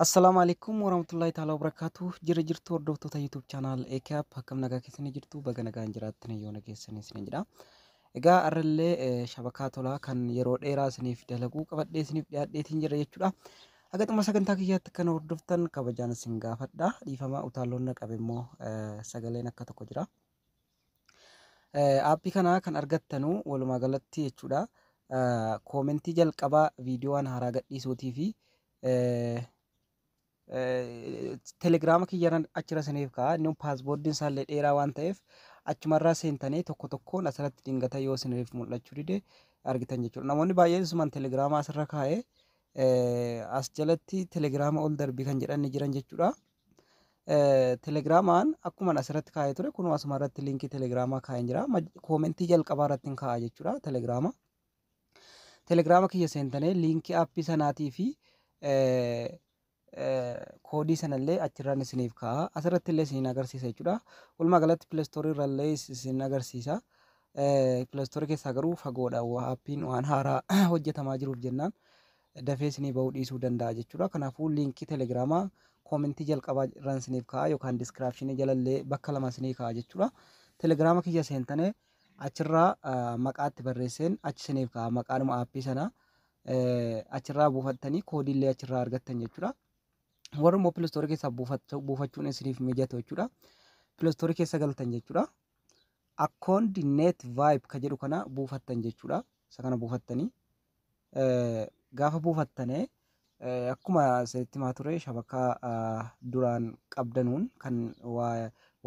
Assalaamu alaikum warahmatullahi ta'ala wabarakaatu jirra jirtu hordoftoota YouTube channel AKAP akkam nagaa keessanii jirtu baga nagaan jiraattan yoo nageessan isinin jedha. Egaa arrallee eh, shabakaa tolaa kan yeroo dheeraa isiniif dalaguu qabadhee isiniif dhiyaadheetiin jira jechuudha. Haga xumura sagantaa kiyyaatti kan hordoftan kabajaan isin gaafadha. Dhiifama utaalloon na qabe immoo eh, sagaleen akka tokko jira. Aappii kana kan argattanu walumaa galatti jechuudha. Koomentii jalqabaa viidiyoowwan haaraa gadhiisuutii fi telegiraama kiyyarran achirra siniif ka'a. Inni paasboordiin isaallee dheeraa waan ta'eef achumarraa seentanii tokko tokkoon asirratti dingata yoo siniif mul'achuu dide argitan jechuudha. Namoonni baay'een isumaan telegiraama asirra kaa'ee as jalatti telegiraama ol darbii kan jedhan ni jiran jechuudha. Telegiraamaan akkuma asirratti kaa'ee ture kunuu asuma irratti liinkii telegiraamaa kaa'een jira. Koomentii jalqabaa irratti hin kaa'a jechuudha telegiraama. Telegiraama kiyya seentanii liinkii aappii sanaatii fi koodii sanallee achirraan isiniif kaa'a. Asirratti illee isiniin agarsiisa jechuudha. Walumaa galatti pileestoorii irrallee isin agarsiisa. Pileestoorii keessaa garuu fagoodha aappiin waan haaraa hojjetamaa jiruuf jennaan. dafee isinii ba'uu dhiisuu danda'a jechuudha. Kanaafuu liinkii telegiraamaa koomentii jalqabaa irraan isiniif kaa'a yookaan diskiraapshinii jalallee bakka lama isinii kaa'a jechuudha. Telegiraama kiyya seentane achirraa maqaatti barreesseen achi isiniif kaa'a maqaanuma aappii sana achirraa buufattanii koodiillee achirraa argattan jechuudha. Warri immoo pilistoorii keessaa buufachuun isiniif mijatu jechuudha. Pilistoorii keessa galtan jechuudha. Akkoondi net vibe ka jedhu kana buufattan jechuudha. Isa kana buufattanii Gaafa buufattane akkuma isinitti himaa ture shabakaa duraan qabdanuun kan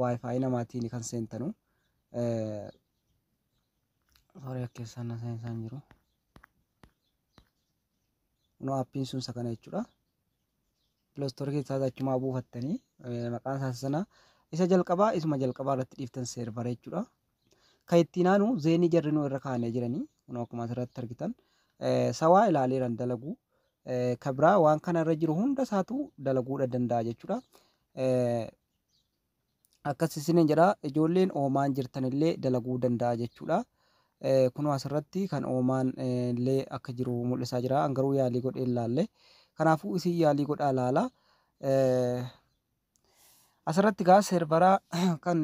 wifi namaatiin kan seentanu sorry akkeessaan na seensaa hin jiru no appiin sun isa kana jechuudha Piloostor keessaas achumaa buufattanii maqaan isaa sana isa jalqabaa isuma jalqabaa irratti dhiiftan seervara jechuudha. Kan ittiin aanu zeenii jarrinuu irra kaa'anii jiranii kun akkuma asirratti argitan sawaa ilaaleeran dalaguu kan biraa waan kana irra jiru hunda isaatu dalaguudha danda'a jechuudha. akkas isiniin jedha ijoolleen oomaan jirtanillee dalaguu danda'a jechuudha. Kunoo asirratti kan oomaan illee akka jiru mul'isaa jira. An garuu yaalii godhee hin laalle. Kanaafuu isin yaalii godhaa laala. Asirratti gaa seervaraa kan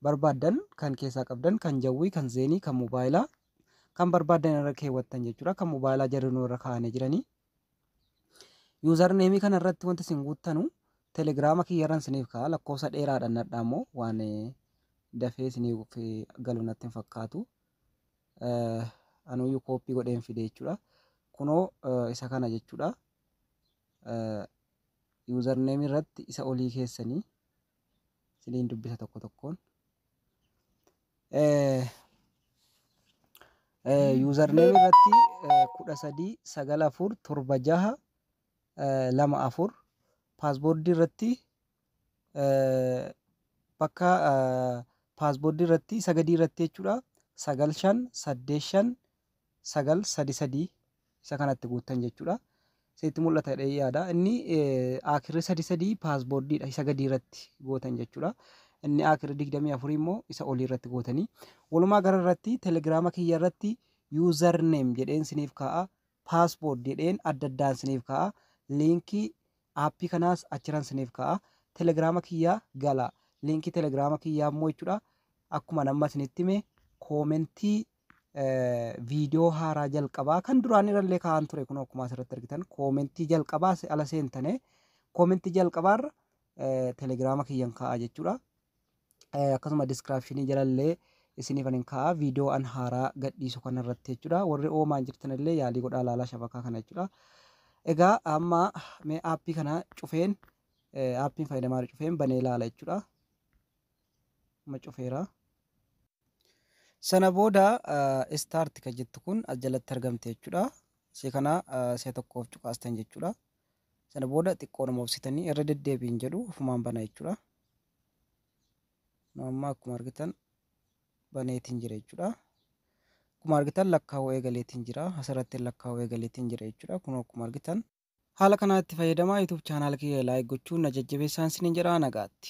barbaaddan kan keessaa qabdan kan jawwii kan zeenii kan mobaayilaa kan barbaaddan irra keewwattan jechuudha. Kan mobaayilaa jarri nu irra kaa'anii jiranii. Yuuzar neemii kana irratti wanti isin guuttanu telegiraama kiyyarran isiniif ka'a lakkoofsa dheeraadhaan nadhaa immoo waan dafee isiniif galu natti hin fakkaatu. Anuyyuu kooppii godheen fide jechuudha. Kunoo isa kana jechuudha. Yuuzar neemii irratti isa olii keessanii isiniin dubbisa tokko tokkoon. Yuuzarneem irratti kudha sadii sagal afur torba jaha lama afur paasboordii irratti bakka paasboordii irratti isa gadii irratti jechuudha sagal shan saddeet shan 9, sadi sadii isa kana itti guuttan jechuudha. Isinitti mul'ata jedhee yaada. Inni aakirri sadi sadii paasboordiidha isa gadii irratti gootan jechuudha. Inni aakirri digdamii afurii immoo isa olii irratti gootanii. Walumaa gara irratti telegiraama kiyya irratti yuuzar neem jedheen isiniif kaa'a. Paasboord jedheen adda addaan isiniif kaa'a. Liinkii aappii kanaas achiran isiniif kaa'a. Telegiraama kiyyaa gala. Liinkii telegiraama kiyyaa immoo jechuudha. Akkuma namma isinitti hime koomentii viidiyoo haaraa jalqabaa kan duraan irrallee kaa'an ture kun akkuma asirratti argitan koomentii jalqabaa se- ala seentane koomentii jalqabaarra eh, telegiraama kiyyan kaa'a jechuudha. Eh, Akkasuma diskiraapshinii jalallee isiniif anin kaa'a viidiyoo an haaraa gadhiisu kanarratti jechuudha. Warri oomaan jirtanillee yaalii godhaa laalaa shabakaa kana jechuudha. Egaa amma mee aappii kana cufeen eh, aappiin fayyadamaa jiru cufeen banee laala jechuudha. ma cufeera. Sana booda start ka jettu kun as jalatti argamte jechuudha. Ishee kana si'a tokkoof cuqaastan jechuudha. Sana booda xiqqoodhuma obsitanii irra deddeebiin jedhu ofumaan bana jechuudha. Nu amma akkuma argitan baneetiin jira jechuudha. Akkuma argitan lakkaa'uu eegaleetiin jira. Asirratti lakkaa'uu eegaleetiin jira jechuudha. Kun akkuma argitan haala kanaa itti fayyadamaa YouTube chaanaal kiyya laayik gochuun na jajjabeessaan isiniin jedha nagaatti.